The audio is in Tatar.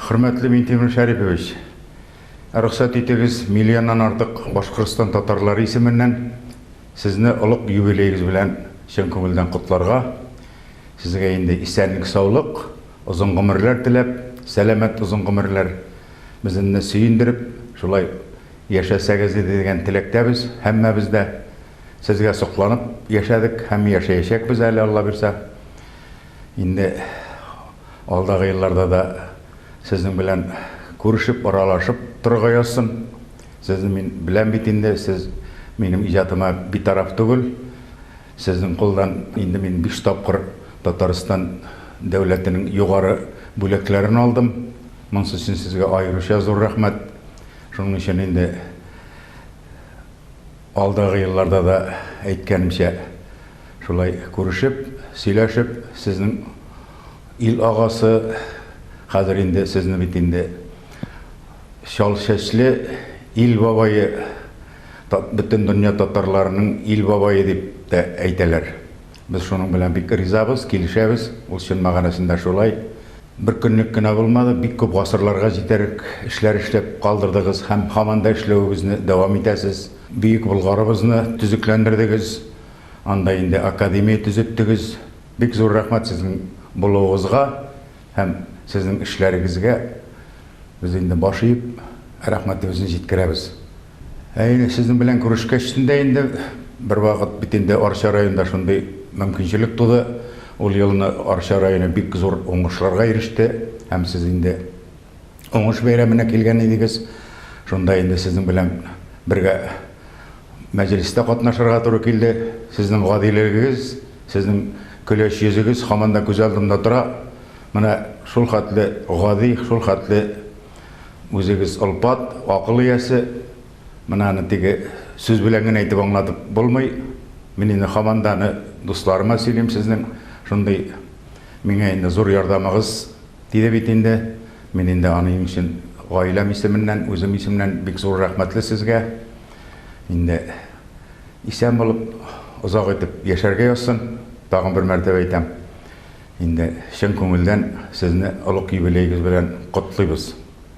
Хөрмәтле Минтимер Шәрипович! Рөхсәт итегез, миллионнан артык Башкортстан татарлары исеменнән Сезне олуг юбилеегыз белән чын күңелдән котларга, Сезгә инде исәнлек-саулык, озын гомерләр теләп, сәламәт озын гомерләр, безенне сөендереп, шулай яшәсәгез иде дигән теләктәбез һәммәбез дә. Сезгә сокланып яшәдек һәм яшәячәкбез әле, Алла бирса. Инде. Алдагы елларда да сезнең белән күрешеп, аралашып торырга язсын. Сезне мин беләм бит инде, сез минем иҗатыма битараф түгел. Сезнең кулдан инде мин биш тапкыр Татарстан дәүләтенең югары бүләкләрен алдым. Монсы өчен сезгә аеруча зур рәхмәт. Шуның өчен инде Алдагы елларда да, әйткәнемчә, шулай күрешеп, сөйләшеп, сезнең ил агасы, хәзер инде сезне бит инде чал чәчле ил бабае, бөтен дөнья татарларының ил бабае дип тә әйтәләр. Без шуның белән бик ризабыз, килешәбез. Ул чын мәгънәсендә шулай. Бер көнлек кенә булмады, бик күп гасырларга җитәрлек эшләр эшләп калдырдыгыз һәм һаман да эшләвегезне дәвам итәсез. Бөек Болгарыбызны төзекләндердегез, анда инде академия төзеттегез. Бик зур рәхмәт сезнең булуыгызга һәм сезнең эшләрегезгә. Без инде баш иеп, рәхмәтебезне җиткерәбез. Ә инде сезнең белән күрешкәч тә инде бервакыт бит инде Арча районында шундый мөмкинчелек туды. Ул елны Арча районы бик зур уңышларга иреште һәм сез инде уңыш бәйрәменә килгән идегез. Шунда инде сезнең белән бергә мәҗлестә катнашырга туры килде. Сезнең гадилегегез, сезнең көләч йөзегез һаман да күз алдымда тора. Менә шулхәтле гади, шулхәтле. Үзегез олпат, акыл иясе. Менә аны теге сүз белән генә әйтеп аңлатып булмый. Мин инде һаман да аны дусларыма сөйлим сезнең шундый миңа инде зур ярдәмыгыз тиде бит инде. Мин инде аның өчен гаиләм исеменнән, үзем исеменнән бик зур рәхмәтле сезгә. Инде исән булып, озак итеп яшәргә язсын, тагын бер мәртәбә әйтәм. Инде чын күңелдән сезне олуг юбилеегыз белән котлыйбыз!